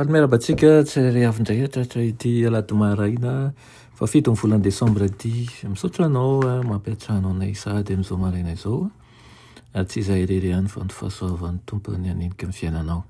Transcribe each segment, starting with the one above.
Faly miarahaba antsika tsirairay avy indray hatratra ity alahady maraina fahafito ny volana desambra ity. Misaotra anao mampiantrano anay sahady amin'izao maraina izao. Tsy izahay irery ihany fa ny fahasoavan'ny Tompo ny hanenika ny fiainanao.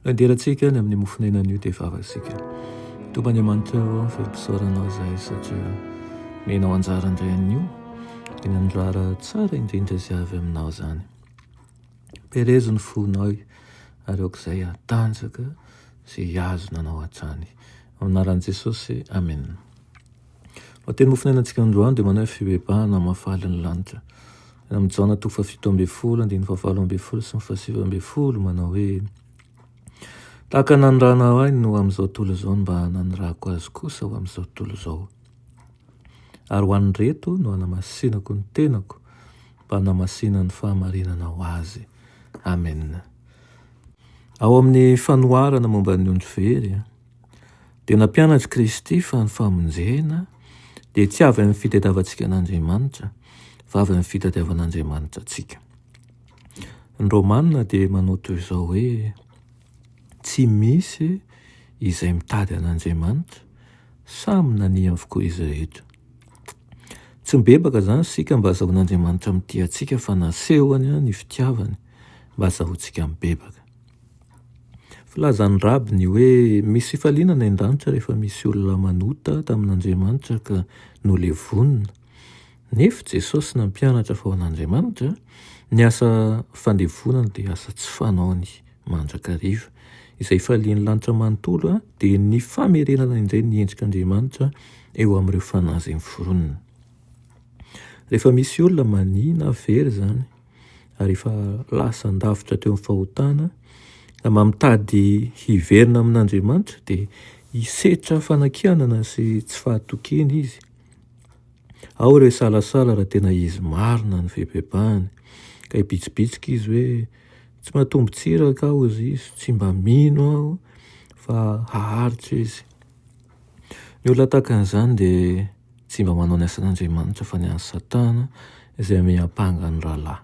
Anderantsika ny amin'ny mofonena anio dia vavasika. Tompo Andriamanitra ao amin'ny firopisoaranao izay satria menao anjara indray anio. Dia nandrara tsara indrindra izay avy aminao izany. Perezo ny fonao ary aok'izay hatanjaka izay hihazona anao hatrany. Amin'ny anaran'i Jesosy, amena. Lohateny mofon'ny ainantsika androany dia manao hoe fibebahana hamafaly ny lanitra. Any amin'ny Jaona toko fahafito ambin'ny folo andininy fahafalo ambin'ny folo sy ny fahasivy ambin'ny folo manao hoe tahaka nanirahana ahy no amin'izao tontolo izao no mba nanirahako azy kosa ho amin'izao tontolo izao. Ary ho an'ireto no hanamasinako ny tenako Mpanamasinany ny fahamarinana ho azy. Amen. Ao amin'ny fanoharana momba ny ondry very, dia nampianatr'i Kristy fa ny famonjena dia tsy avy amin'ny fitadiavantsika an'Andriamanitra, fa avy amin'ny fitadiavan'Andriamanitra antsika. Ny Romana dia manao toy izao hoe, Tsy misy izay mitady an'Andriamanitra, samy nania avokoa izy rehetra. Tsy mibebaka izany isika mba hazahoan'Andriamanitra mitia antsika fa nasehony ny fitiavany mba hazahoantsika mibebaka. Filazan'ny Raby ny hoe misy fifaliana any an-danitra rehefa misy olona manota tamin'Andriamanitra ka nolevonina. Nefo Jesosy nampianatra fa ho an'Andriamanitra, ny asa fandevonana dia asa tsy fanaony mandrakariva. Izay falian'ny lanitra manontolo dia ny famerenana indray ny endrik'Andriamanitra eo amin'ireo fanahy izay miforonina. Rehefa misy olona mania na very izany, ary efa lasa an-davitra teo amin'ny fahotana, ka mba mitady hiverina amin'Andriamanitra dia hisetra fanakianana sy tsy fahatokiana izy, Ao re salasala raha tena izy marina ny fibebahany ka hibitsibitsika izy hoe tsy mba tombon-tsiraka aho hoy izy, tsy mba mino aho fa haharitra izy. Ny olona tahaka an'izany dia tsy mba manao ny asan'Andriamanitra fa ny an'i Satana izay miampanga ny rahalahy.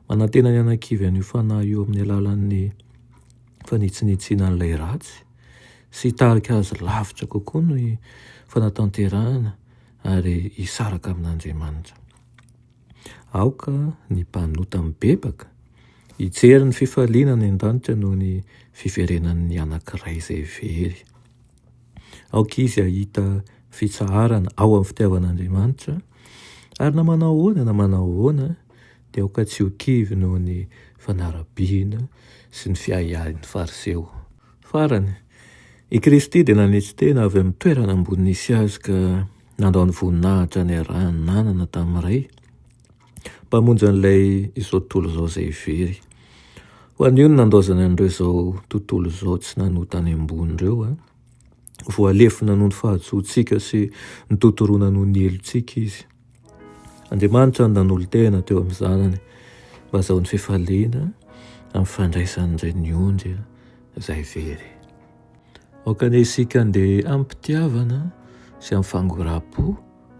Manantena ny anakivy an'io fanahy io amin'ny alalan'ny fanitsinitsiana an'ilay ratsy. sy hitarika azy lavitra kokoa ny fanatanterahana ary hisaraka amin'Andriamanitra. Aoka ny mpanota mibebaka hijery ny fifaliana any an-danitra noho ny fiverenan'ny anankiray izay very. Aoka izy hahita fitsaharana ao amin'ny fitiavan'Andriamanitra, ary na manao ahoana na manao ahoana dia aoka tsy ho kivy noho ny fanarabiana sy ny fiahiahin'ny Fariseo. Farany, i Kristy dia nanetry tena avy amin'ny toerana ambony nisy Azy ka nandao ny voninahitra niarahany nanana tamin'ny Ray, Mpamonjy an'ilay izao tontolo izao izay very. Ho an'io ny nandaozany an'ireo izao tontolo izao tsy nanoa tany ambony ireo, voalefona noho ny fahadisoantsika sy notontoroina noho ny helotsika Izy. Andriamanitra no nanolo-tena teo amin'ny zanany mba hazahoany fifaliana amin'ny fandraisany indray ny ondry izay very. Aoka anie isika andeha amim-pitiavana sy amin'ny fangoram-po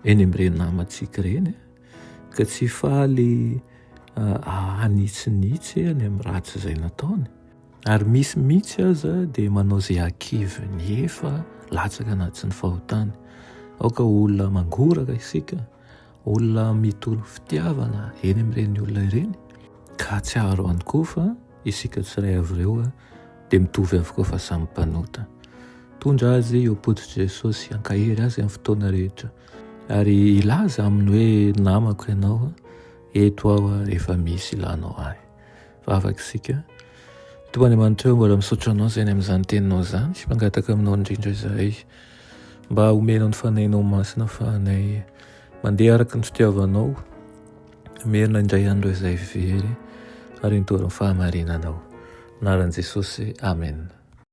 eny amin'ireny namantsika ireny ka tsy faly hanitsinitsy any amin'ny ratsy izay nataony Ary misy mihitsy aza dia manao izay hakivy ny efa latsaka anaty ny fahotany. Aoka olona mangoraka isika, olona mitory fitiavana eny amin'ireny olona ireny, ka hatsiaro ihany koa fa isika tsiray avy ireo dia mitovy avokoa fa samy mpanota. Tondra azy eo am-pototr'i Jesosy hankahery azy amin'ny fotoana rehetra, ary hilaza aminy hoe namako ianao, eto aho efa misy ilanao ahy. Vavaka isika. Tompo Andriamanitra mbola misaotra anao izay any amin'izany teninao izany sy mangataka aminao indrindra izahay mba homenao ny fanahinao masina fahanay mandeha araka ny fitiavanao merina indray andro izay very ary nitory ny fahamarinanao naran'i Jesosy amen